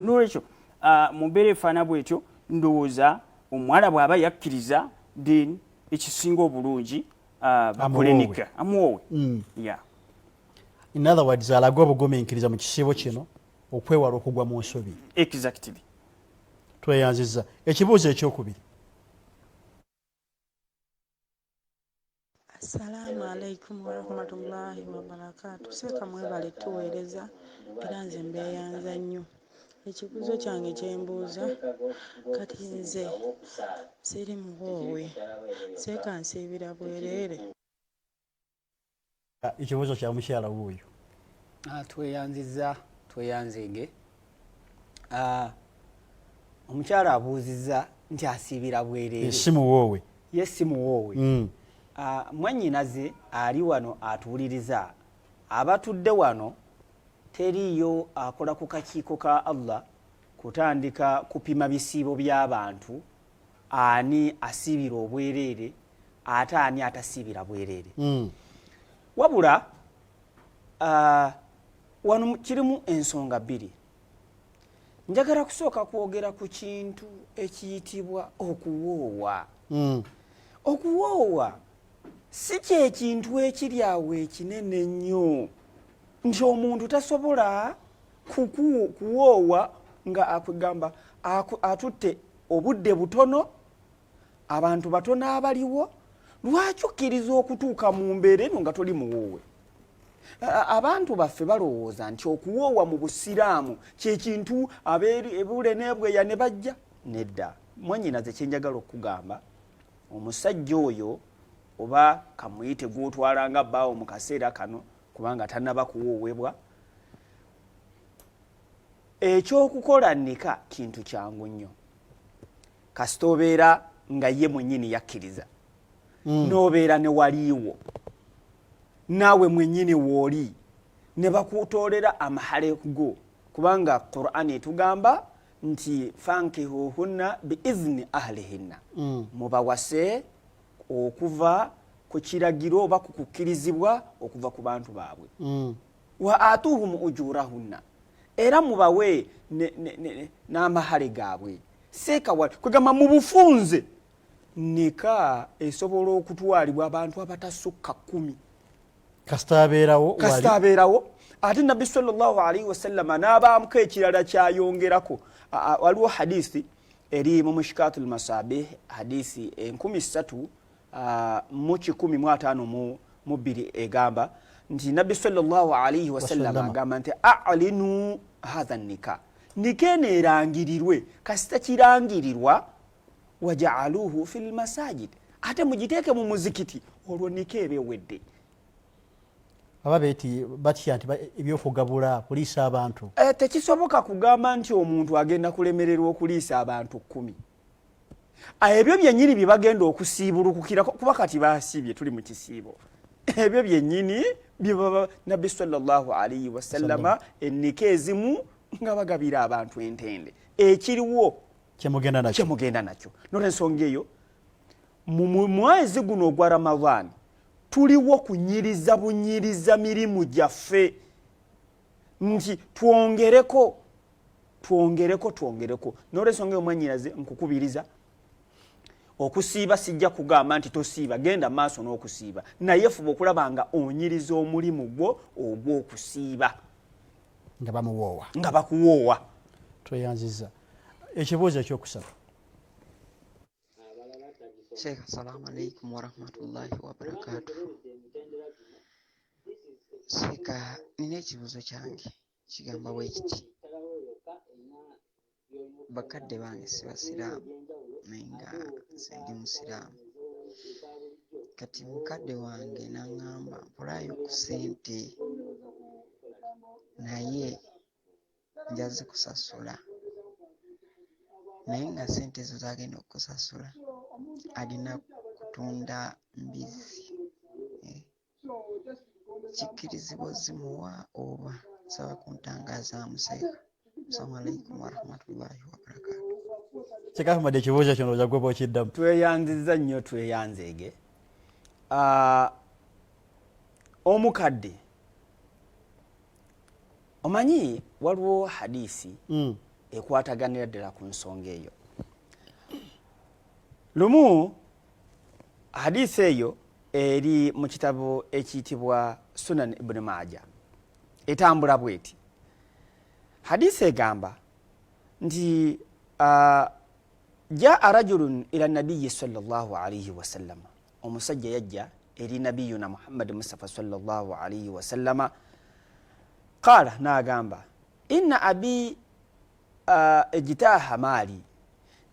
nolwekyo ah, mumbeera efaana bwetyo ndowooza omuwala bwaba yakkiriza then ekisinga obulungi ah, bakulenika amuwoowe mm. in other words alage obugumiikiriza mu kisiibo kino okwewala okugwa mu nsobi exactly tweyanziza ekibuuzo ekyokubiri Assalamu alaikum warahmatullahi wabarakatu seeka mwebale tuweereza era nze mbeeyanza nnyo ekibuuzo kyange kyembuuza kati nze siri muwoowe seeka nsiibira bwereere ekibuuzo kya mukyala wuuyo ah, tweyanziza tweyanzege ah, omukyala abuuziza nti asiibira bwereere si muwoowe ye si muwoowe mm. ah, mwannyinaze ali wano atuwuliriza abatudde wano teriiyo akola ku kakiiko ka allah kutandika kupima bisiibo by'abantu ani asiibira obwereere ate ani atasiibira bwereere mm. wabula uh, wano kirimu ensonga bbiri njagala kusooka kwogera ku kintu ekiyitibwa okuwoowa mm. okuwoowa si kyekintu ekiri awo ekinene nnyo nti omuntu tasobola kuwoowa nga akugamba atutte obudde butono abantu batono abaliwo lwaki okkiriza okutuuka mu mbeera eno nga toli muwoowe abantu baffe balowooza nti okuwoowa mu busiraamu kyekintu abebule nebweya ne bajja nedda mwanyinaze kyenjagala okukugamba omusajja oyo oba kamuyite gwotwala nga baawo mu kaseera kano kubanga tanaba kuwowebwa ekyokukola nika kintu kyangu nnyo kasita obeera nga ye mwenyini yakkiriza mm. nobeera newaliiwo naawe mwenyini wooli ne bakutoolera amahale go kubanga qurani etugamba nti fankihuhunna biizni ahlihinna mm. mubawase okuva ku kiragiro oba ku kukkirizibwa okuva ku bantu baabwe mm. wa atuhum ujurahunna era mubawe n'amahale gaabwe seekawal kwegamba mu bufunze nika esobola okutwalibwa abantu abatasukka kumi kasita abeerawo kasita abeerawo ate nabbi sallallahu alaihi wasallama n'abaamuko ekirala kyayongerako waliwo hadisi eri mu mushikatu lmasabe hadisi enkumi satu ah, mu kikumi mu ataano mu bbiri egamba nti nabbi salllahu alaihi wasallama agamba nti alinu hatha nika nika eno erangirirwe kasita kirangirirwa wajaaluhu fi lmasajid ate mugiteeke mu muzikiti olwo nika eba ewedde baba beti batya nti ebyokugabula kuliisa abantu eh, tekisoboka kugamba nti omuntu agenda kulemererwa okuliisa abantu kumi ah, ebyo byenyini bye bagenda okusiibulukukira kuba kati basiibye tuli mu kisiibo ebyo byenyini byebaba nabbi salllahu alaihi wasallama ennika ezimu nga bagabira abantu entende ekiriwo kyemugenda nakyo nolwensonga eyo mu mwezi guno ogwa ramadaani tuliwo kunyiriza bunyiriza mirimu gyaffe nti twongereko twongereko twongereko nolwensonga eyo mwanyinaze nkukubiriza okusiiba sijja kugamba nti tosiiba genda maaso n'okusiiba naye fuba okulaba nga onyiriza omulimu gwo ogw'okusiiba nga bamuwoowa nga bakuwoowa tweyanziza ekibuuzo ekyokusatu sheikh assalamu alaikum warahmatullahi wabarakatuhu sheikh nina ekibuuzo kyange kigamba bwe kiti bakadde bange si basiraamu naye nga nze ndi musiraamu kati mukadde wange n'aŋŋamba mpulaayo ku ssente naye nja zikusasula naye nga sente ezo zagenda okukusasula alina kutunda mbizzi eh. kikkirizibwa ozimuwa oba nsaba kuntangazaamu seeka assalamu alaikum warahmatullahi wabarakatu kikafumadde ekibuuzo kino oja gweba okiddamu tweyanziza nnyo tweyanzeege ah, omukadde omanyi waliwo hadisi mm. ekwataganira ddala ku nsonga eyo lumu hadisi eyo eri mu kitabo ekiyitibwa sunan ibuni maaja etambula bweti hadisi egamba nti uh, jaa rajulun ila nabiyi salllah alaihi wasalama omusajja yajja eri nabiyuna muhammadi mustafa salllah alaihi wasallama qaala naagamba inna abi uh, ejitaaha maali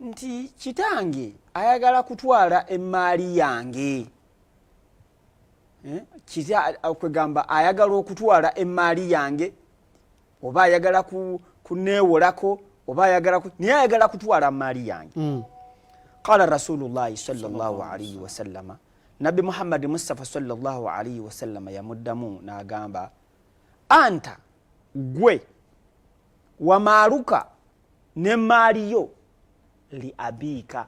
nti kitange ayagala kutwala emmaali yange eh, kwegamba ayagala okutwala emmaali yange oba ayagala kuneewolako oba ayagala naye ayagala kutwala maali yange mm. qala rasulullahi salaalaihi wasallama nabbi muhammadi mustafa salaalaihi wasallama yamuddamu n'agamba anta gwe wamaaluka ne maali yo li abiika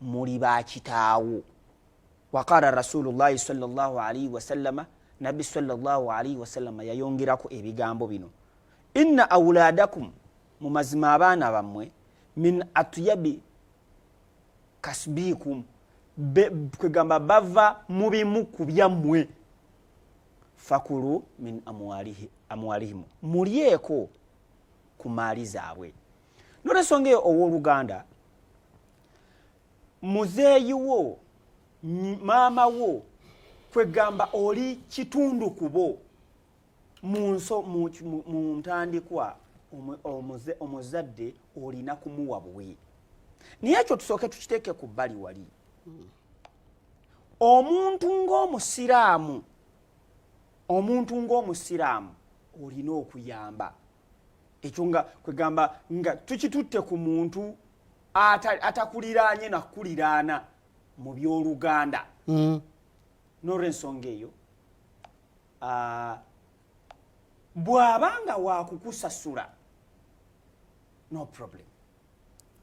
muli bakitaawo waqala rasulullahi salllahu alaihi wasallama nabbi salllahu alaihi wasallama yayongerako ebigambo bino inna auladakum mu mazima abaana bammwe min atyabi kasbikum kwegamba bava mu bimu ku byammwe fakulu min amwalihimu mulyeko ku maali zaabwe nolwensonga eyo ow'oluganda muzeeyi wo maama wo kwegamba oli kitundu kubo munso mu ntandikwa omuzadde olina kumuwa buwi naye ekyo tusooke tukiteeke ku bbali wali hmm. omuntu ng'omusiraamu omuntu ng'omusiraamu olina okuyamba ekyo nga kwegamba nga tukitutte ku muntu atakuliraanye nakukuliraana mu byoluganda mm. nolwensonga eyo ah, bw'aba nga wakukusasula no problem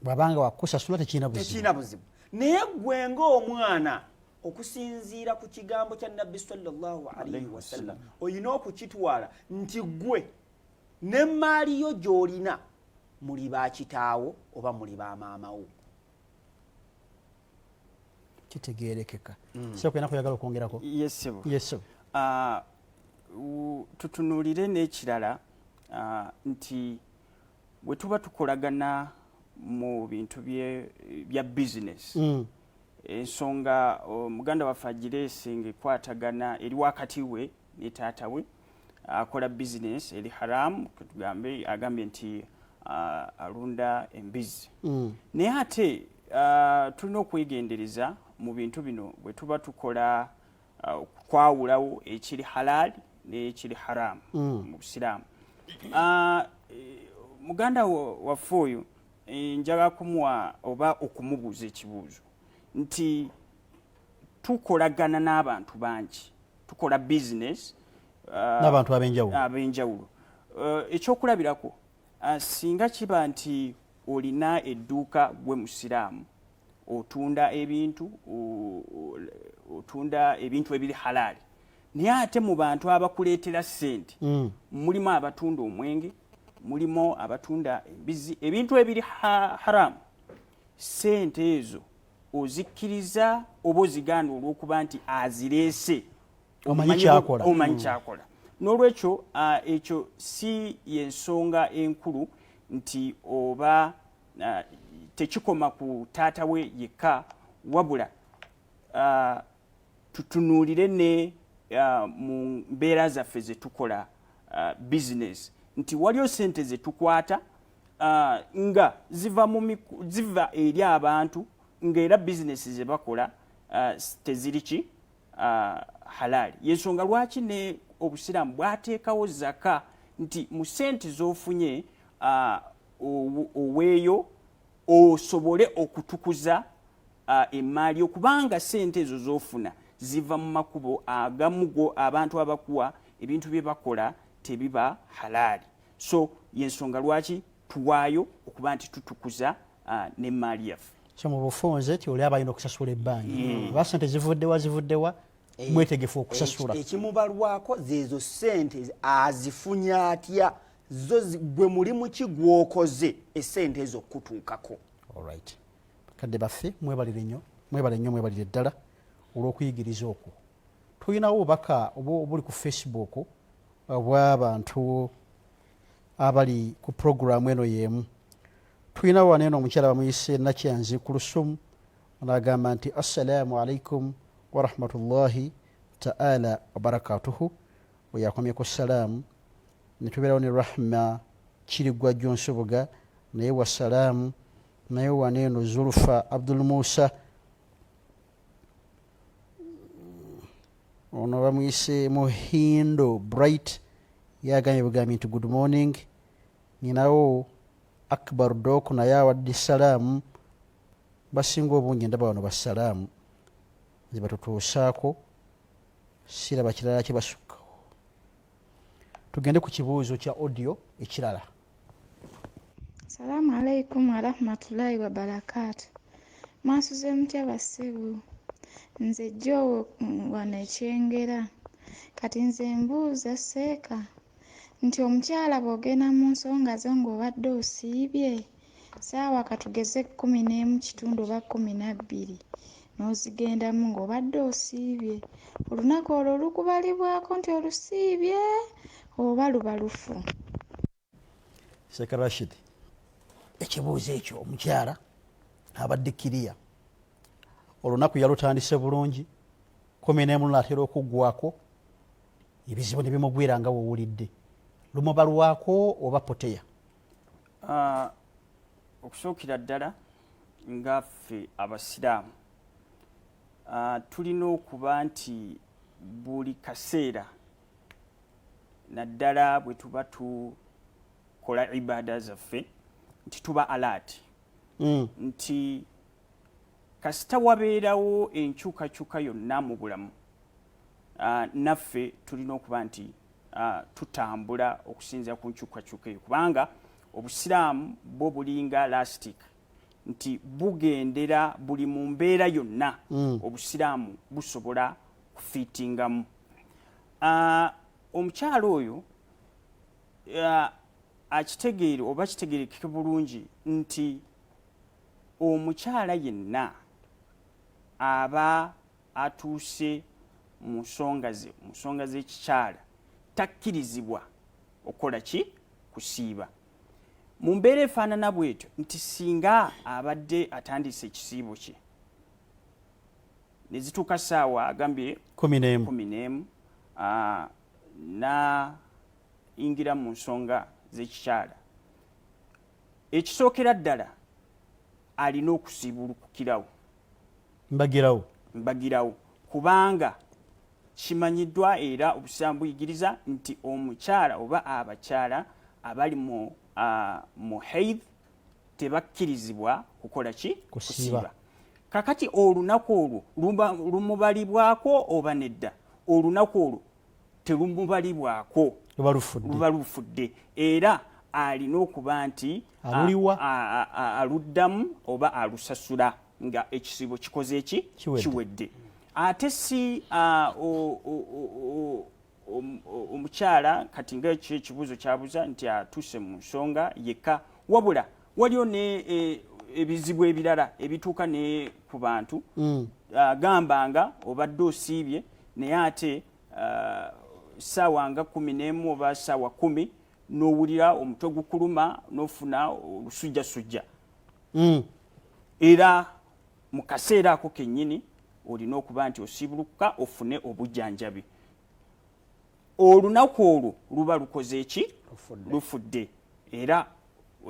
bwabanga wakusasula tekirina buzibu naye gwe ngaomwana okusinziira ku kigambo kya nabbi salllahalihi wasallam olina okukitwala nti gwe n'emmaali yo gy'olina muli ba kitaawo oba muli ba maamawo kitegerekeka mm. sebo kena kuyagala okwongerako yesebo yesebo ah, tutunulire n'ekirala ah, nti bwe tuba tukolagana mu bintu bya business mm. ensonga muganda waffe agireese ngaekwatagana eri wakati we ne taata we akola business eri haramu ketugambe agambye nti uh, alunda embizi mm. naye ate uh, tulina okwegendereza mu bintu bino bwe tuba tukola uh, kwawulawo ekiri halaali nekiri haramu mm. mu busiraamu uh, muganda waffe oyo eh, njala kumuwa oba okumubuuza ekibuuzo nti tukolagana n'abantu bangi tukola business uh, n'abantu abenjawulo abenjawulo uh, ekyokulabirako uh, singa kiba nti olina edduuka gwe musiraamu otunda ebintu otunda ebintu ebiri halaali naye ate mu bantu abakuleetera ssente mm. mulimu abatunda omwenge mulimu abatunda embizi ebintu ebiri haramu sente ezo ozikkiriza oba ozigaana olwokuba nti azireese omanyi kyakola mm. n'olwekyo uh, ekyo si yensonga enkulu nti oba uh, tekikoma ku taata we yekka wabula uh, tutunuulire ne uh, mu mbeera zaffe ze tukola uh, bizinesi nti waliyo sente ze tukwata uh, nga ziva, mu, ziva eri abantu ngaera bizinesi ze bakola uh, teziri ki uh, halaali yensonga lwaki ne obusiraamu bwateekawo zaka nti mu sente z'ofunye uh, oweeyo osobole okutukuza emmaali okubanga sente ezo zofuna ziva mu makubo agamu go abantu abakuwa ebintu bye bakola tebiba halaali so yensonga lwaki tuwaayo okuba nti tutukuza nemmaali yaffe so mu bufunze ti oli abalina okusasula ebbanja hmm. oba sente zivuddewa zivuddewa eh, mwetegefu okusasula eh, ekimubalwako zeezo sente azifunya atya zo gwe mulimu ki gwokoze esente ezo okutuukako olright kadde baffe mwebalire nnyo mwebale nnyo mwebalire ddala olw'okuyigiriza okwo tulinawo obubaka obuli ku facebook obwabantu abali ku puroguramu eno y'emu tulinawo wano eno omukyala bamuyise nakyanzi kulusumu onagamba nti assalamu alaikum warahmatullahi taala wabarakatuhu weyakomye ku salaamu netubeerawo ne rahma kirigwa jonsubuga naye wa salaamu naye waneeno zulfa abdul musa ono bamwise muhindo bright yagambye bugambi nti good morning ninawo akbar dok naye awadde salaamu basinga obungi ndaba bano basalaamu nze batutuusaako siraba kirala kye basukkawo tugende ku kibuuzo kya audio ekirala salaamu alaikum warahmatullahi wabarakaatu mwasuze mutya basibu nze joowo mm, wano ekyengera kati nze mbuuza seeka nti omukyala bw'ogenda mu nsonga zo ng'obadde osiibye saawa katugeze kkumi n'emu kitundu oba kkumi na bbiri n'ozigendamu ng'obadde osiibye olunaku olwo lukubalibwako nti olusiibye oba luba lufu sekarashid ekibuuzo ekyo omukyala abadde kiriya olunaku yalutandise bulungi kumi n'emu naatera okuggwako ebizibu ne bimugwira nga wowulidde lumubalwako oba poteya ah, okusookera ddala nga ffe abasiraamu ah, tulina okuba nti buli kaseera naddala bwe tuba tukola ibaada zaffe nti tuba alaati mm. nti kasita wabeerawo enkyukakyuka yonna mu bulamu uh, naffe tulina okuba nti uh, tutambula okusinzira ku nkyukakyuka eyo kubanga obusiraamu bwo bulinga lastic nti bugendera buli mu mbeera yonna mm. obusiraamu busobola kufiitingamu uh, omukyalo oyo uh, akitegeere oba kitegerekeke bulungi nti omukyala yenna aba atuuse mu nsonga ze mu nsonga z'ekikyala takkirizibwa okukola ki kusiiba mu mbeera efaanana bwetyo nti singa abadde atandise ekisiibo kye nezituuka saawa agambye kumi n'emu nayingira mu nsonga z'ekikyala ekisookera ddala alina okusiibulukukirawo mbagirawo mbagirawo kubanga kimanyiddwa era obusiraamu buyigiriza nti omukyala oba abakyala abali mu uh, muhaid tebakkirizibwa kukola ki kusiiba kakati olunaku olwo lumubalibwako oba nedda olunaku olwo telumubalibwako luba lufudde era alina okuba nti aluddamu oba alusasula nga ekisiibo kikoze eki kiwedde ate si omukyala kati nga ekyo ekibuuzo kyabuza nti atuuse mu nsonga yekka wabula waliwo ne e, ebizibu ebirala ebituuka ne ku bantu mm. gamba nga obadde osiibye naye ate saawa nga kumi n'emu oba saawa kumi n'owulira omutwe gukuluma n'ofuna olusujjasujja mm. era mu kaseera ako kennyini olina okuba nti osiibulukuka ofune obujjanjabi olunaku olwo luba lukoze eki lufudde era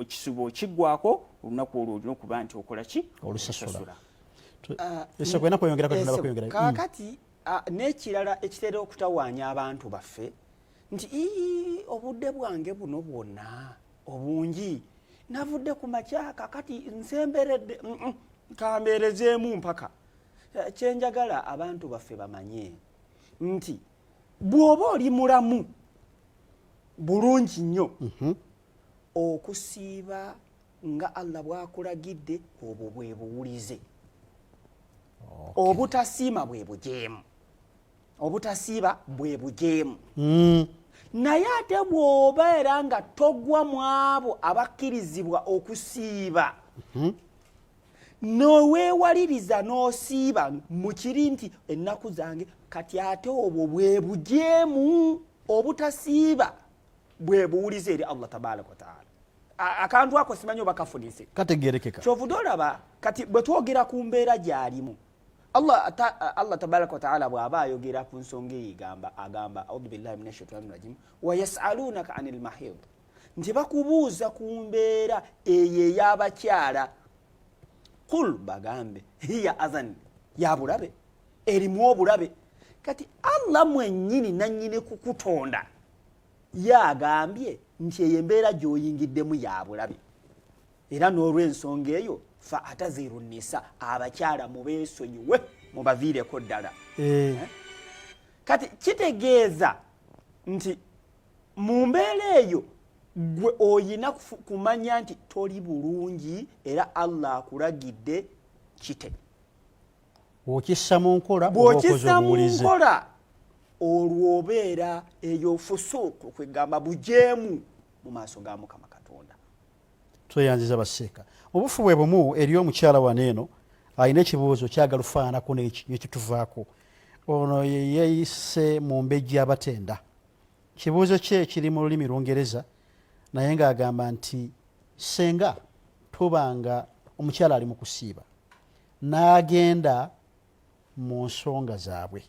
ekisuba okigwako olunaku olwo olina okuba nti okola ki olusasula ah, kakati mm. ah, n'ekirala ekitera okutawaanya abantu baffe nti ii obudde bwange buno bwonna obungi navudde ku makyaka kati nsemberedde mm, mm, kambeerezeemu mpaka eh, kyenjagala abantu baffe bamanye nti bw'oba oli mulamu bulungi nnyo mhm. okusiiba nga allah bwakulagidde obwo bwe buwulize obutasiima bwe bujeemu obutasiiba bwe bujeemu hmm. naye ate bw'oba era nga togwa mu abo abakkirizibwa okusiiba hmm. noweewaliriza n'osiiba mu kiri nti ennaku zange kati ate obwo bwe bujeemu obutasiiba bwe buwuliza eri allah tabaraka wataala akantu ako simanyi oba kafunise kategerekeka kyovude olaba kati bwe twogera ku mbeera gyalimu allah allah tabaraka wataala bw'aba ayogera ku nsonga eyo egamba agamba audu billahi min ashaitani rajim wayasalunaka ani lmahid nti bakubuuza ku mbeera eyo ey'abakyala kul bagambe hiya azan ya bulabe erimu obulabe kati allah mwennyini nannyini kukutonda ye agambye nti eyo embeera gy'oyingiddemu ya bulabe era n'olw'ensonga eyo fa ataziru nisa abakyala mubeesonyiwe mubaviireko ddala eh. Eh? kati kitegeeza nti mu mbeera eyo gwe oyina kumanya nti toli bulungi era allah akulagidde kite bwokissa mu nkola bwokissa mu nkola olwo obeera eyo fusuuku kwegamba bujeemu mu maaso ga mukama tweyanziza baseeka mubufu bwe bumu eriyo omukyala wano eno alina ekibuuzo kyagala ofaananako nekituvaako ono yeyeyise mu mbejja abatenda kibuuzo kye kiri mu lulimi lungereza naye ngaagamba nti senga tuba nga omukyala ali mu kusiiba n'agenda mu nsonga zaabwe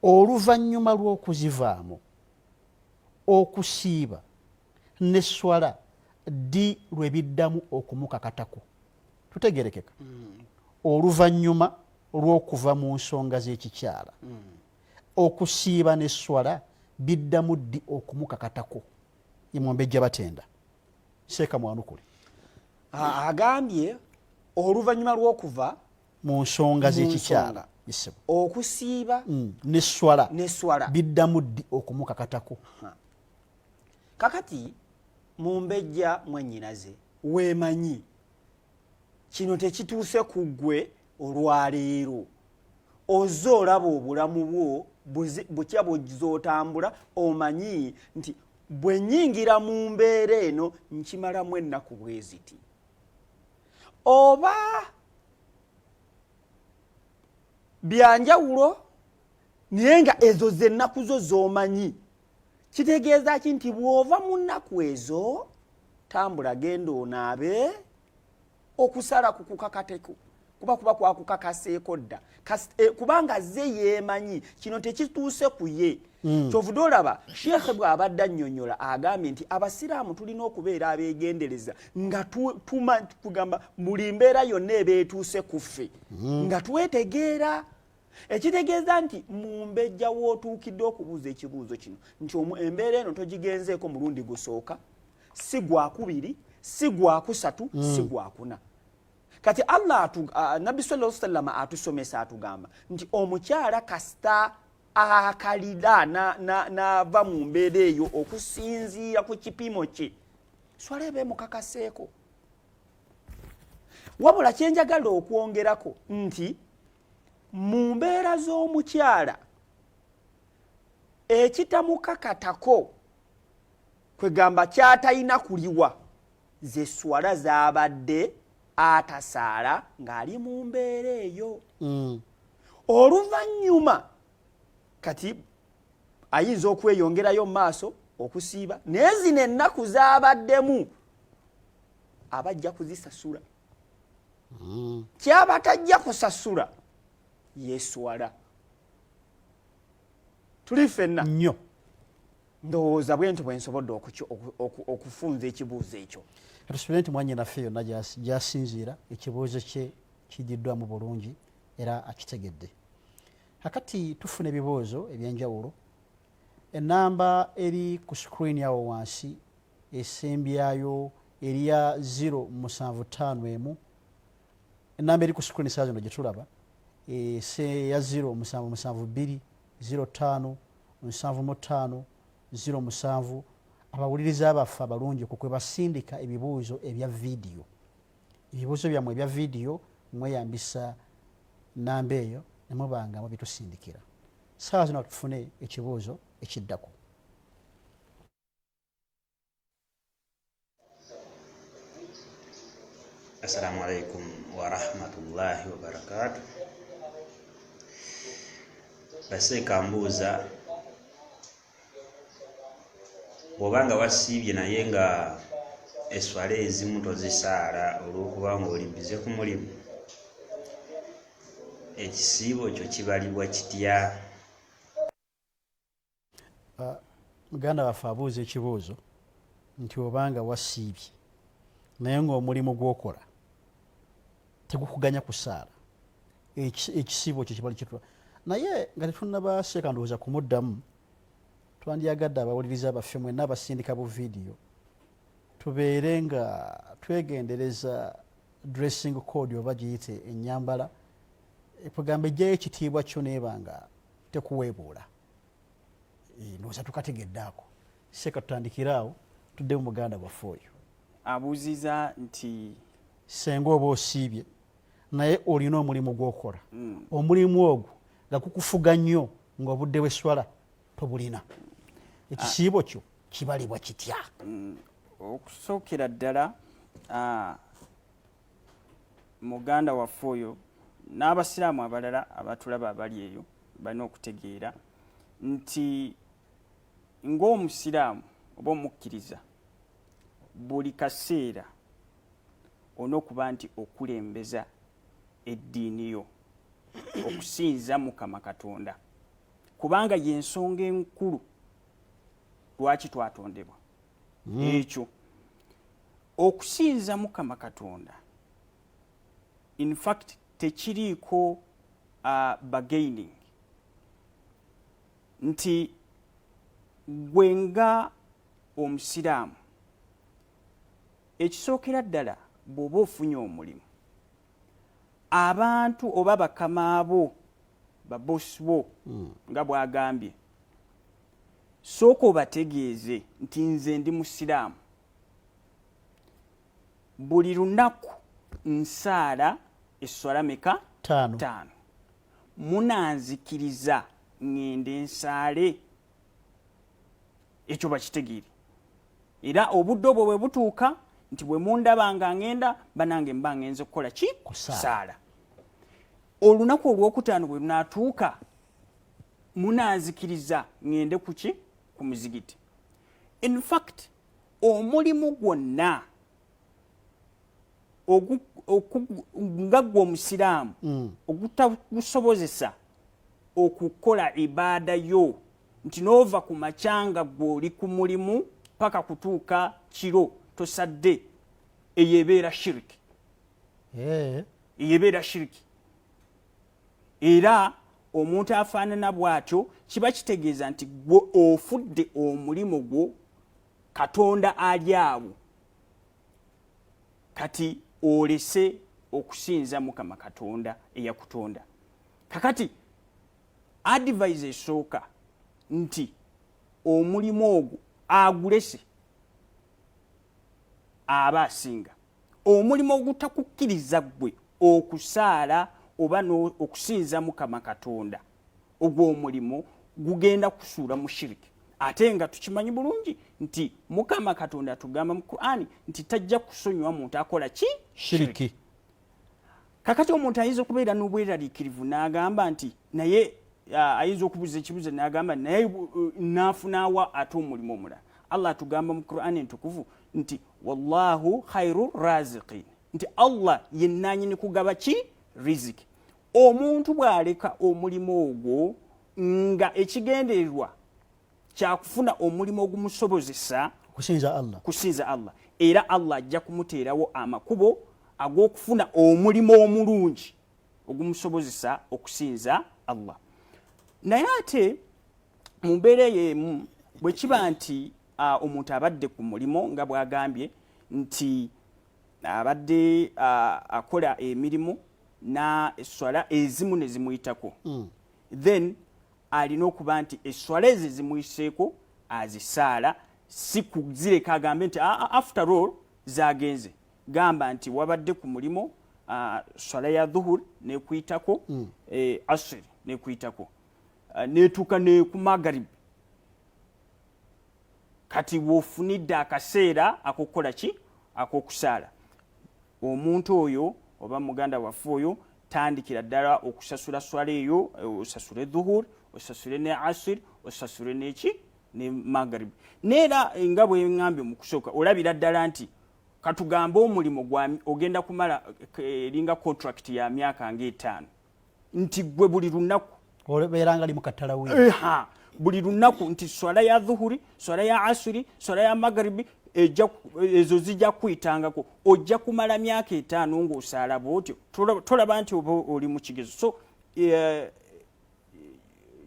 oluvannyuma lw'okuzivaamu okusiiba ne swala ddi lwe biddamu okumukakatako tutegerekeka mm. oluvannyuma lw'okuva mu nsonga z'ekikyala mm. okusiiba ne swala biddamu ddi okumukakatako imwombejja batenda seeka mwanukule agambye oluvannyuma lw'okuva mu nsonga z'ekikyala okusiiba mm. ne swala biddamu ddi okumukakatako kakati mumbejja mwanyinaze wemanyi kino tekituuse ku ggwe olwaleero oze olaba obulamu bwo butya buzotambula omanyi nti bwenyingira mu mbeera eno nkimalamu ennaku bweziti oba byanjawulo naye nga ezo zennaku zo zomanyi kitegeeza ki nti bw'ova mu nnaku ezo tambula genda onaabe okusala ku kukakateko kuba kuba kwakukakaseeko dda eh, kubanga ze yeemanyi kino tekituuse ku ye Mm. kyovude olaba sheekhe bw'abadde annyonnyola agambye nti abasiraamu tulina okubeera abeegendereza nga tugamba buli mbeera yonna ebeetuuse ku ffe mm. nga twetegeera ekitegeeza nti mumbejja wootuukidde okubuuza ekibuuzo kino nti embeera eno togigenzeeko mulundi gusooka si gwakubiri si gwakusatu hmm. si gwakuna kati allah nabbi sala salama atusomesa atugamba nti omukyala kasita akalira nava mu mbeera eyo okusinziira ku kipimo kye swala eba emukakaseeko wabula kyenjagala okwongerako nti mu mbeera z'omukyala ekitamukakatako kwegamba kyatalina kuliwa ze swala zabadde atasaala ng'ali mu mbeera eyo mm. oluvannyuma kati ayinza okweyongerayo mu maaso okusiiba naye zino ennaku zabaddemu abajja kuzisasula mm. kyaba tajja kusasula yeswala tuli fenna nyo ndowooza bwenti bwensobodde okufunza ekibuuzo ekyo tusubire nti mwanyinaffe yonna gyasinziira ekibuuzo kye kididdwamu bulungi era akitegedde akati tufuna ebibuuzo ebyenjawulo enamba eri ku screen awo wansi esembyayo eriya 075 enamba eri ku screen saa zino gyetulaba eya 077 05 75 07 abawuliriza abaffe abalungi ku kwebasindika ebibuuzo ebya vidiyo ebibuuzo byammwe ebya vidiyo mweyambisa namba eyo nemubanga mubitusindikira saawa zino tufune ekibuuzo ekiddako Assalamu alaikum warahmatullahi wabarakatu. Baseeka mbuuza bw'oba nga wasiibye naye nga eswala ezimu tozisaala olw'okuba ng'oli bize ku mulimu, ekisiibo kyo kibalibwa kitya? uh, muganda waffe abuuza ekibuuzo nti obanga wasiibye naye ngaomulimu gwokola tegukuganya kusaala ekisiibo kyo kibali kitula naye nga tetunabaseeka ndowooza kumuddamu twandyagadde abawuliriza baffe mwena abasindika bu vidiyo tubeere nga twegendereza dressing code oba giyite enyambala ekugamba ejjayo ekitiibwa kyo neeba nga tekuweebuula eh, ndowooza tukategedde ako seeka tutandikire awo tuddemu muganda waffe oyo abuuziza nti senga oba osiibye naye olina omulimu gwokola mm. omulimu ogwo nga kukufuga nnyo nga obudde bweswala tobulina ekisiibo kyo kibalibwa kitya mm. okusookera ddala muganda waffe oyo n'abasiraamu abalala abatulaba abali eyo balina okutegeera nti ng'omusiraamu oba omukkiriza buli kaseera olina okuba nti okulembeza eddiini yo okusinza mukama katonda kubanga yensonga enkulu lwaki twatondebwa hmm. ekyo okusinza mukama katonda infact tekiriiko uh, bagaining nti gwe nga omusiraamu ekisookera ddala bw'oba ofunye omulimu abantu oba bakamaabo babosi bo hmm. nga bwagambye sooka obategeeze nti nze ndi musiraamu buli lunaku nsaala esswala meka taano munanzikiriza ŋŋende nsaale ekyo bakitegeere era obudde obwo bwe butuuka nti bwe mundaba nga ŋŋenda banange mba ŋŋenze kukola ki kusaala olunaku olwokutaano bwe lunaatuuka munanzikiriza ŋŋende ku ki ku muzigiti infact omulimu gwonna nga gwe omusiraamu mm. ogutagusobozesa okukola ibaada yo nti noova ku makyanga gweoli ku mulimu paka kutuuka kiro tosadde eyo ebeera shiriki eh. eyo ebeera shiriki era omuntu afaanana bw'atyo kiba kitegeeza nti gwe ofudde omulimu gwo katonda ali awo kati olese okusinza mukama katonda eyakutonda kakati advise esooka nti omulimu ogwo agulese aba asinga omulimu ogutakukkiriza ggwe okusaala oba okusinza mukama katonda ogwo omulimu gugenda kusuula mu shiriki ate nga tukimanyi bulungi nti mukama katonda atugamba mu qurani nti tajja kusonyiwa muntu akola ki shiriki kakati omuntu ayinza okubeera n'obweraliikirivu n'agamba nti naye ayinza okubuza ekibuzo n'agamba naye uh, naafunaawa ate omulimu omulala allah atugamba mu qurani entukuvu nti wallahu khairu raziqin nti allah yenanyini kugaba ki riziki omuntu bw'aleka omulimu ogwo nga ekigendererwa kyakufuna omulimu ogumusobozesa kusinza allah kusinza allah era allah ajja kumuteerawo amakubo ag'okufuna omulimu omulungi ogumusobozesa okusinza allah naye ate mu mbeera eyo emu bwe kiba nti omuntu abadde ku mulimu nga bwagambye nti abadde akola emirimu na eswala ezimu ne zimuyitako hmm. then alina okuba nti esswala ezo ezimuyiseeko azisaala si kuzireka agambe nti ah, ah, after all zagenze gamba nti wabadde ku mulimu ah, swala ya dhuhur nekuyitako mm. eh, asiri nekuyitako netuuka nekumagarib kati wofunidde akaseera akokukola ki akokusaala omuntu oyo oba muganda waffe oyo tandikira ddala okusasula swala eyo eh, osasule dhuhur osasule ne asir osasule neki ne magrib neera eh, nga bwengambye mukusooka olabira ddala nti katugambe omulimu ogenda kumala eh, eringa contract ya myaka nga etaano nti gwe buli lunaku obeeranga limu katalawi buli lunaku nti swala ya dhuhuri swala ya asuri swala ya magaribi ezo zijja kuyitangako ojja kumala myaka etaano ngaosaala bwotyo tolaba nti oba oli mu kigezo so e,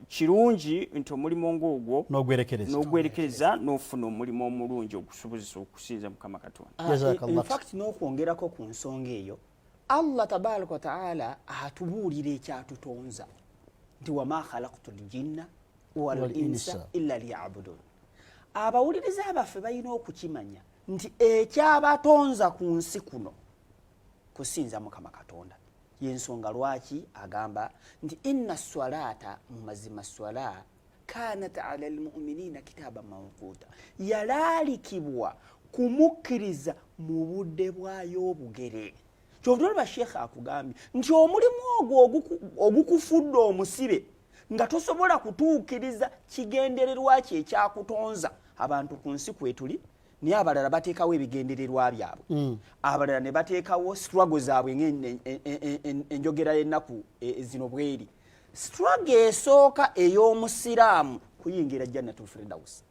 kirungi nti omulimu ngaogwo nogwerekereza nofuna omulimu omulungi ogusobozesa okusinza mukama katonda ah, e, n'okwongerako ku nsonga eyo allah tabaraka wataala atubuulira ekyatutonza nti wama khalaktu ljinna walinsa illa liyabudun abawuliriza baffe balina okukimanya nti ekyabatonza ku nsi kuno kusinza mukama katonda yensonga lwaki agamba nti inna swalaata mu mazima swala kanat ala almuminina kitaaba mawquuta yalaalikibwa kumukkiriza mu budde bwayo obugere kyovula olaba sheekha akugambye nti omulimu ogwo ogukufudde omusibe nga tosobola kutuukiriza kigendererwa kye ekyakutonza abantu ku nsi kwetuli naye abalala bateekawo ebigendererwa byabwe mm. abalala ne bateekawo struggle zaabwe ngaenjogera yennaku e, zino bweri struggle esooka ey'omusiraamu kuyingira jannatul firdausi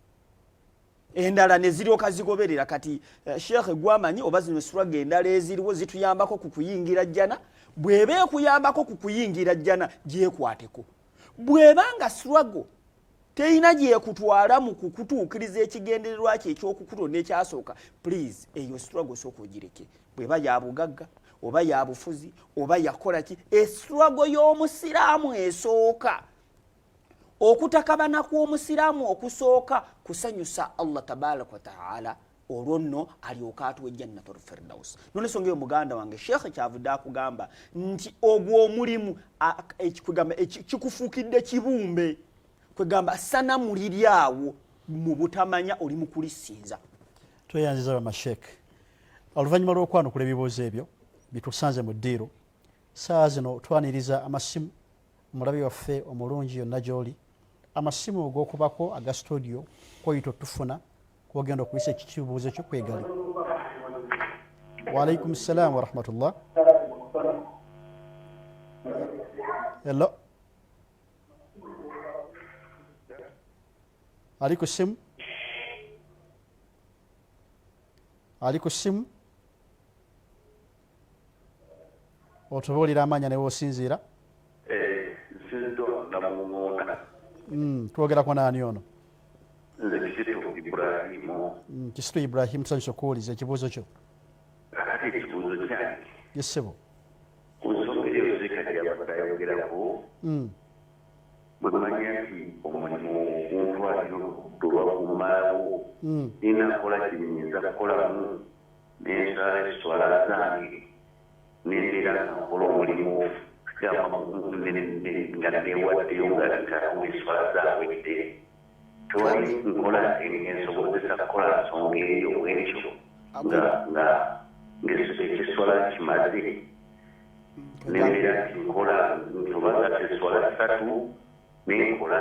endala neziryoka zigoberera kati eh, sheikh gwamanyi oba zino suraga endala eziriwo zituyambako ku kuyingira jjana bweba ekuyambako ku kuyingira jjana gyekwateko bweba nga surago terina gyekutwala mu kukutuukiriza ekigendererwa kyo ekyokukutonda ekyasooka please eyo struggle sooka ogireke bweba yabugagga oba yabufuzi oba yakola ki estruggle y'omusiraamu esooka okutakabana kw'omusiraamu okusooka kusanyusa allah tabaraka wataala olwo nno alyoka atuwa ejjannatu lfirdausi nolensonga eyo muganda wange sheekhe kyavudde akugamba nti ogwo omulimu kwegamba kikufuukidde kibumbe kwegamba sana muliri awo mu butamanya oli mu kulisinza tweyanziza bamasheek oluvannyuma lw'okwanukula ebibuuzo ebyo bitusanze mu ddiiro saawa zino twaniriza amasimu mulabi waffe omulungi yonna gyoli amasimu ogokubako aga studio koyita otufuna kwogenda okuyisa ekikibuuzo kyo kwegali waalaikum salaamu warahmatullah hello ali ku simu ali ku simu otubuulira amaanya ne wosinziira eh, hmm, twogerako naani ono hmm, kisitu ibrahim tusanyusa okuwuliza ekibuuzo kyo yesebo hmm. bwemanya nti omulimu oguntwaliro tulwakumaawo ninakola kyenyinza kukolamu n'ensala esswala zange n'embeera nakola omulimu nga newaddeyo nga ntakuba esswala zawedde tewali nkola ensobozesa kukola nsonga eyo bwekyo nga nga ng'esswala kimaze nembeera nti nkola nti oba nga sesswala ssatu nenkola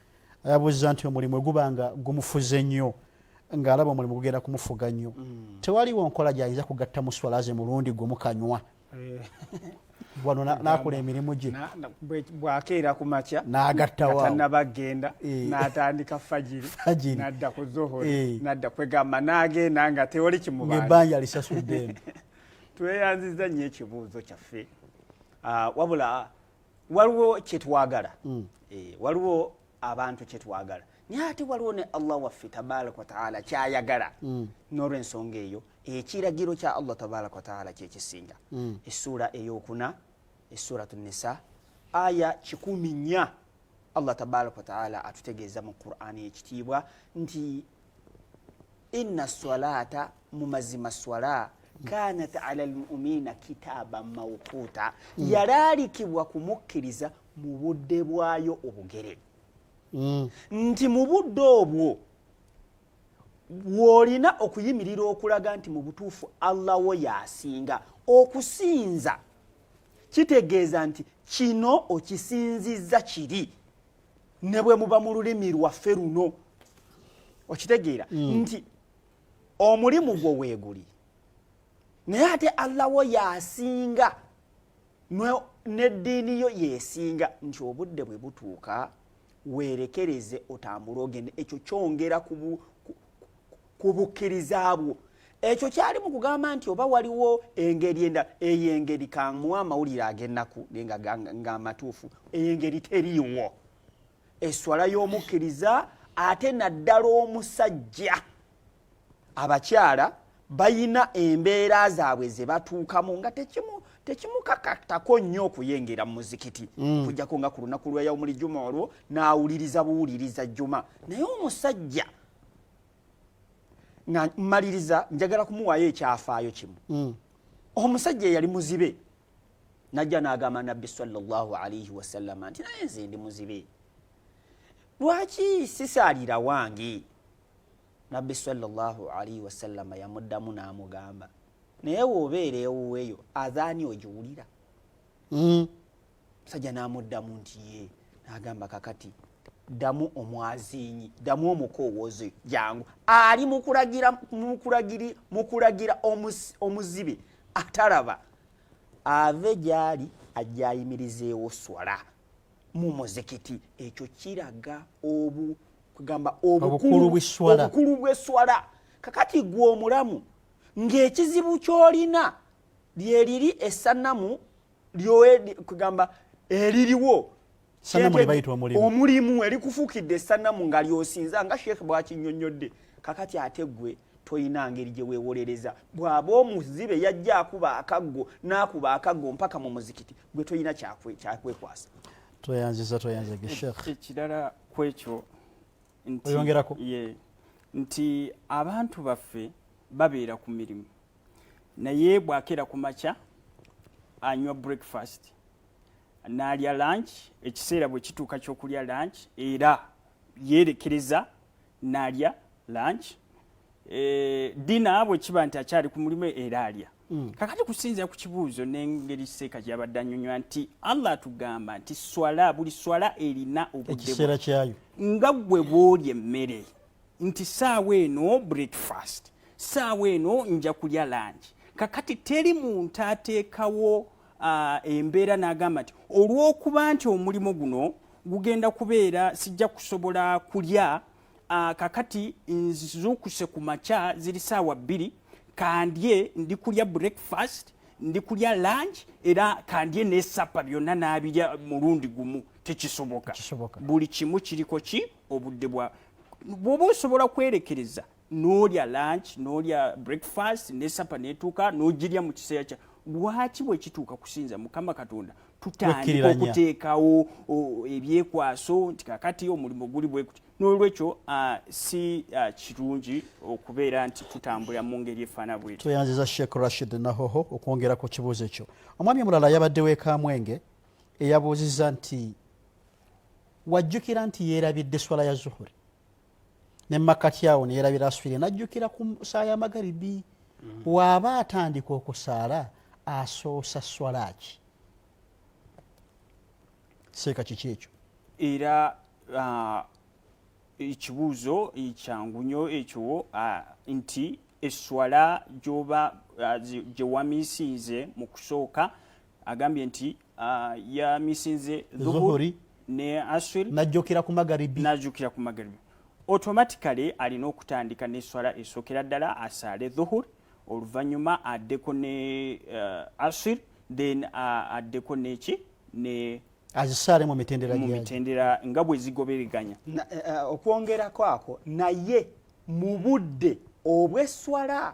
ayabuzza nti omulimu eguba nga gumufuze nnyo ng'alaba omulimu gugenda kumufuga nnyo mm. tewaliwo nkola gyayinza kugatta mu swala ze mulundi gwe mukanywa eh. wano nakola emirimu gye bwakeera ku makya nagattawatanabagenda eh. natandika fajiri nadda ku zohori eh. nadda kwegamba nagenda nga tewali kimuebanja lisasudde tweyanziza nnyo ekibuuzo kyaffe ah, wabula waliwo kyetwagala mm. eh, waliwo abantu kyetwagala naye ate waliwo ne allah waffe tabaraka wataala kyayagala mm. nolwensonga eyo ekiragiro kya allah tabaraka wataala kyekisinga mm. essuula eyokuna essurat nisa aya kikumi nya allah tabaraka wataala atutegeeza mu qurani ekitiibwa nti inna salata mu mazima swala kanat ala lmumiina kitaaba mawquuta mm. yalaalikibwa kumukkiriza mu budde bwayo obugere mm. nti mu budde obwo bw'olina okuyimirira okulaga nti mu butuufu allah wo yasinga okusinza kitegeeza nti kino okisinzizza kiri ne bwe muba mu lulimi lwaffe luno okitegeera mm. nti omulimu gwo weeguli naye ate allah wo yasinga n'eddiini yo yesinga nti obudde bwe butuuka weerekereze otambule ogende ekyo kyongera ku bukkiriza bwo ekyo kyali mu kugamba nti oba waliwo engeri endala eyo engeri kamuwa amawulire ag'ennaku nga amatuufu eyo engeri teriiwo eswala y'omukkiriza ate naddala omusajja abakyala bayina embeera zaabwe ze batuukamu nga tekimu tekimukakatako nnyo okuyengera mu muzikiti mm. kujjako nga ku lunaku lwa yaumuli juma olwo n'awuliriza buwuliriza juma naye omusajja nga mmaliriza njagala kumuwaayo ekyafaayo kimu mm. omusajja eyali muzibe najja n'agamba nabbi salaalaihi wasallama nti naye nze ndi muzibe lwaki sisaalira wange nabbi salaalaihi wasallama yamuddamu n'amugamba naye wobeera ewuweeyo adhaani ogiwulira mm. musajja n'amuddamu nti ye n'agamba kakati ddamu omwaziinyi ddamu omukowoozi jangu ali mukulagira omuzibe atalaba ave gy'ali ajja ayimirizeewo swala mu muzikiti ekyo kiraga obu kugamba obukulu bw'esswala kakati gwe omulamu ng'ekizibu ky'olina lyeriri esanamu lyoedi kugamba eririwo omulimu erikufuukidde esanamu nga lyosinza nga sheekh bwakinyonyodde kakati ate gwe tolina ngeri gye weewolereza bw'aba omuzibe yajja akuba akaggo n'akuba akaggo mpaka mu muzikiti gwe tolina kyakwekwasa tweyanziza tweyanzege sheekh ekirala kwekyo oyongerako nti abantu baffe babeera ku mirimu naye bwakeera ku makya anywa breakfast naalya lunch ekiseera bwe kituuka kyokulya lunch era yeerekereza naalya lunch e, eh, dina bwe kiba nti akyali ku mulimu era alya Mm. kakati kusinzira ku kibuuzo n'engeri seeka gyabadde anyonywa nti allah atugamba nti swala buli swala erina obudekiseera kyayo nga gwe bwoli emmere nti saawa eno breakfast saawa eno nja kulya langi kakati teri muntu ateekawo uh, embeera n'agamba nti olw'okuba nti omulimu guno gugenda kubeera sijja kusobola kulya Ah, kakati nzukuse ku makya ziri saawa bbiri kandye ndi kulya breakfast ndi kulya lunch era kandye nesapa byonna nabirya mulundi gumu tekisoboka buli kimu kiriko ki obudde bwa bwoba osobola kwerekereza nolya lunch nolya breakfast nesapa netuuka nogirya mu kiseera kya lwaki bwekituuka kusinza mukama katonda tutandika okuteekawo ebyekwaso nti kakati omulimu guli bwekuti n'olwekyo uh, si uh, kirungi okubeera nti tutambula mu ngeri efaana bweti tweyanziza sheikh rashid nahoho okwongera ku kibuuzo ekyo omwami omulala yabadde wekamwenge eyabuuzizza nti wajjukira nti yeerabidde swala ya zuhuri ne makati awo neyerabira aswire najjukira ku saa ya magaribi mm. waaba atandika okusaala asoosa swalaaki seeka kiki ekyo era uh, ekibuuzo kyangu nyo ekyo uh, nti eswala gyoba uh, gyewamisinze mu kusooka agambye nti Ah, ya misinze dhuhuri ne aswir najjukira ku magaribi najjukira ku magaribi automatically alina okutandika n'esswala esookera ddala asaale dhuhur oluvannyuma addeko ne uh, aswir then uh, addeko neki ne azisaale mu mitendera mu mitendera nga bwe zigobereganya eh, eh, okwongerako ako naye mu budde obw'esswala uh,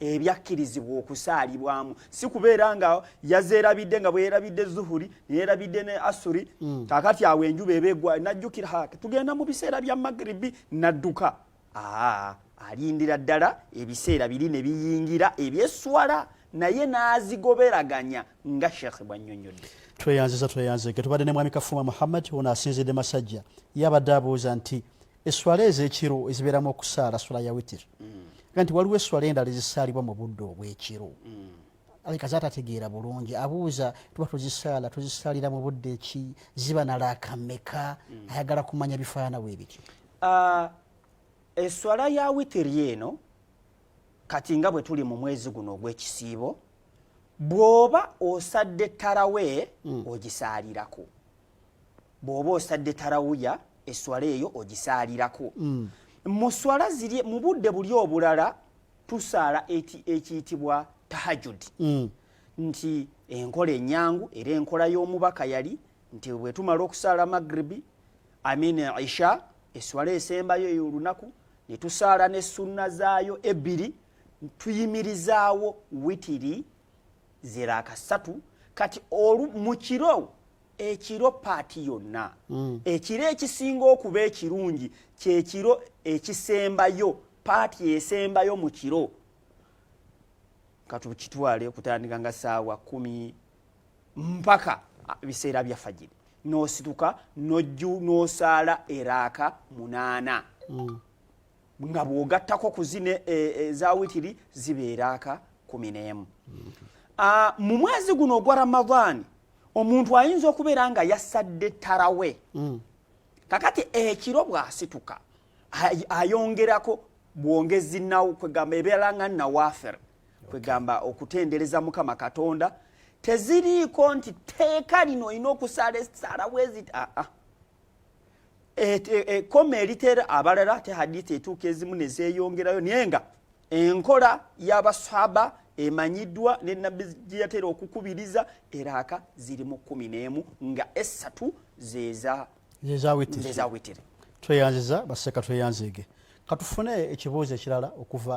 ebyakkirizibwa okusaalibwamu si kubeera nga yazeerabidde nga bweyerabidde zuhuri neyerabidde ne asuri mm. kakati awo enjuba ebegwa najjukira ha tugenda mu biseera bya magribi nadduka aa alindira ddala ebiseera biri ne biyingira ebyeswala naye n'azigoberaganya nga sheekhe bw'annyonnyodde tweyanziza tweyanzege tubadde ne mwami kafuuma muhammad ono asinzidde masajja yabadde abuuza nti esswala ez'ekiro ezibeeramu okusaala swala ya witir mm. nti waliwo esswala endala ezisaalibwa mu budde obw'ekiro mm. aleka zatategeera bulungi abuuza tuba tuzisaala tuzisaalira mu budde ki ziba nalaakameka mm. ayagala kumanya bifaana weebityo ah, esswala ya witiri eno kati nga bwe tuli mu mwezi guno ogw'ekisiibo bw'oba osadde tarawe ogisaalirako bw'oba osadde tarawuya eswala eyo ogisaalirako mm. mu swala ziri mu budde buli obulala tusaala ekiyitibwa tahajudi mm. nti enkola enyangu era enkola y'omubaka yali nti bwe tumala okusaala magribi amin isha eswala esembayo eyo olunaku ne tusaala ne sunna zaayo ebbiri tuyimirizaawo witiri ziraaka ssatu kati mu kiro ekiro paati yonna mm. ekiro ekisinga okuba ekirungi kyekiro ekisembayo paati esembayo mu kiro katukitwale okutandika nga saawa kumi mpaka ah, biseera bya fajiri nosituka noju nosaala eraaka munaana mm. nga bwogattako ku zino e, e, eza witiri zibeera aka kumi n'emu ah, mu mwezi guno ogwa ramadaani omuntu ayinza okubeera nga yasadde tarawe mm. kakati ekiro bwasituka ayongerako bwongezi nawo kwegamba ebeera nga nawafer kwegamba okutendereza mukama katonda teziriiko nti teeka lino olina okusala esalawo ezit aa ah, ah. ekoma e, e, eritera abalala te hadithi etuuka ezimu nezeyongerayo naye nga enkola yabaswaba emanyiddwa ne nabbi gyeyatera okukubiriza eraaka ziri mu kumi n'emu nga essatu zezawitiri tweyanziza baseka tweyanziige katufune ekibuuzo ekirala okuva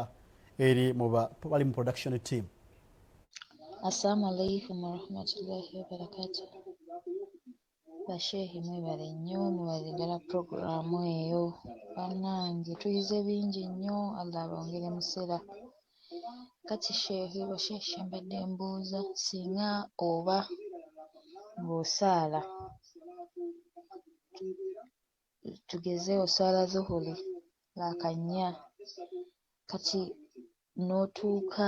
eri mubali mu production team assalamu alaikum warahmatullahi wabarakatuh Ba sheikh mwebale nnyo mwebale ddala program eyo banange tuyize bingi nnyo Allah abongere musera kati sheikh ba sheikh mbadde mbuuza singa oba ng'osaala tugeze osaala zuhuli laaka nnya kati n'otuuka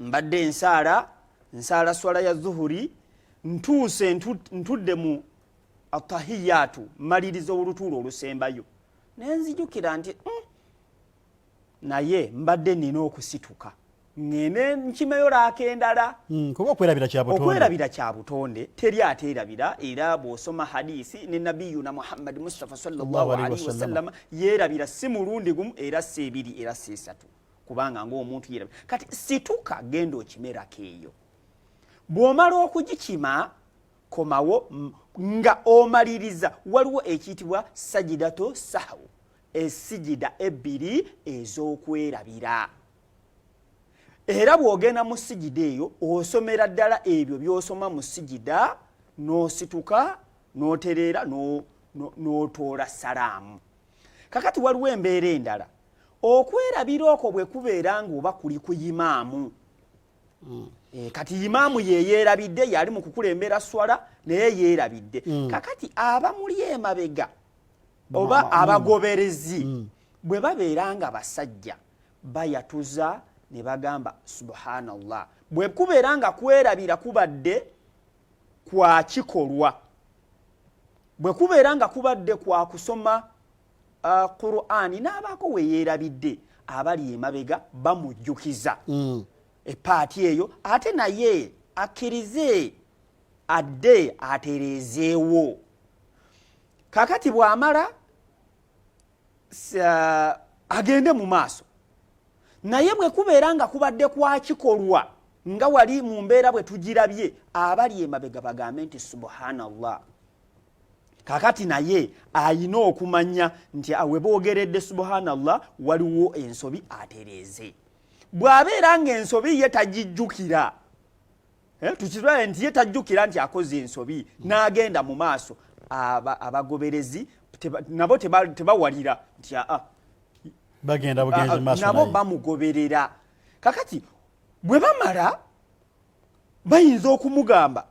mbadde ensaala nsaala swala ya zuhuri ntuuse ntudde mu atahiyaatu maliriza olutuula olusembayo naye nzijukira nti mm, naye mbadde nina okusituka ngende nkimeyo laaka endala hmm, kuba okwerabira kya butonde teri ateerabira era bw'osoma hadisi ne nabiyuna muhammadi mustapha salllahalihi wasallama yeerabira si mulundi gumu era si ebiri era si esatu kubanga ngaomuntu yera kati situka genda okimerako eyo bwomala okugikima komawo nga omaliriza waliwo ekiyitibwa sajidato sahu esijida ebbiri ez'okwerabira era bw'ogenda mu sijida eyo osomera ddala ebyo by'osoma mu sijida n'osituka n'otereera n'otoola salaamu kakati waliwo embeera endala okwerabira okwo bwe kubeera ng'oba kuli ku imaamu hmm. eh, kati imaamu yeyeerabidde yali mu kukulembera swala naye yeerabidde hmm. kakati abamuli emabega oba hmm. abagoberezi bwe babeera nga basajja bayatuza ne bagamba subhanallah bwe kubeera nga kwerabira kubadde kwa kikolwa bwe kubeera nga kubadde kwa kusoma uh, qurani n'abaako we yeerabidde abali emabega bamujjukiza mm. epaati eyo ate naye akkirize adde atereezeewo kakati bw'amala agende mu maaso naye bwe kubeera nga kubadde kwakikolwa nga wali mu mbeera bwe tugirabye abali emabega bagambe nti subhanallah kakati naye ayina okumanya nti awe boogeredde subhanallah waliwo ensobi atereeze bw'abeera ng'ensobi ye tagijjukira eh, tukitulabe nti ye tajjukira nti akoze ensobi n'agenda mu maaso abagoberezi nabo tebawalira nti aa bagenda bugenzi maaso nabo bamugoberera kakati bwe bamala bayinza okumugamba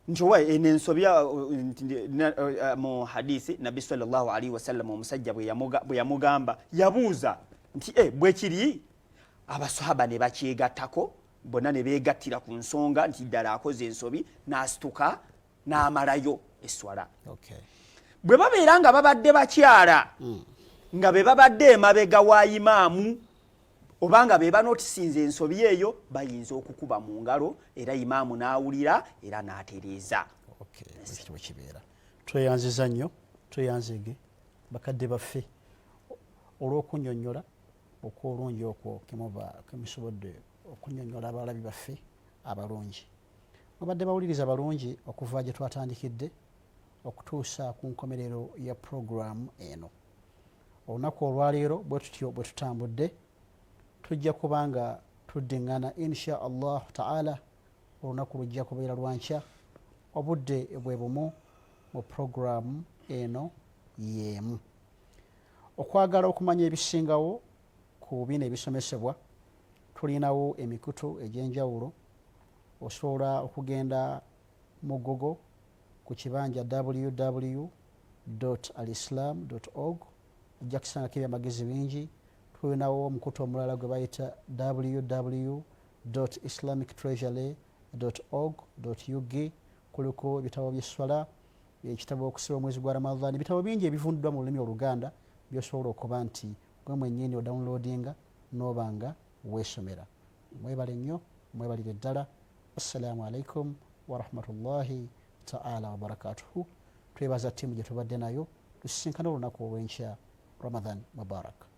nti owa eno eh, ensobi eh, eh, mu hadisi nabbi salllahu alaihi wasallam omusajja bwe yamugamba yabuuza nti e bwekiri abasahaba ne bakyegattako bonna ne beegattira ku nsonga nti ddala akoze ensobi n'asituka n'amalayo esswala bwe babeera nga babadde bakyala hmm. nga be babadde emabega wa imaamu obanga be banotisinza ensobi eyo bayinza okukuba mu ngalo era imaamu n'awulira era n'atereeza ekitibwe kibeera tweyanziza nnyo tweyanzege bakadde baffe olw'okunyonyola okw'olungi okwo kemuba kemusobodde okunyonyola abalabi baffe abalungi. Mubadde bawuliriza balungi okuva gye twatandikidde okutuusa ku nkomerero ya pulogulaamu eno. Olunaku olwaleero bwe tutyo bwe tutambudde tujja kuba nga tuddingana insha allahu taala olunaku lujja kubeera lwa nkya obudde bwe bumu mu pulogulaamu eno y'emu. Okwagala okumanya ebisingawo ku bino ebisomesebwa, tulinawo emikutu egy'enjawulo. Osobola okugenda mu Google ku kibanja www alislam org ojja kusangako ebyamagezi bingi. Tulinawo omukutu omulala gwe bayita www islamic treasury org ug kuliko ebitabo byesswala ekitabo okusiba omwezi gwa ramadan ebitabo bingi ebivundiddwa mu lulimi oluganda byosobola okuba nti gwe mwennyini odownloadinga nooba nga weesomera mwebale nnyo mwebalire ddala assalamu alaikum warahmatullahi taala wabarakatuhu twebaza ttiimu gye tubadde nayo tusisinkana olunaku olw'enkya ramadan mubarak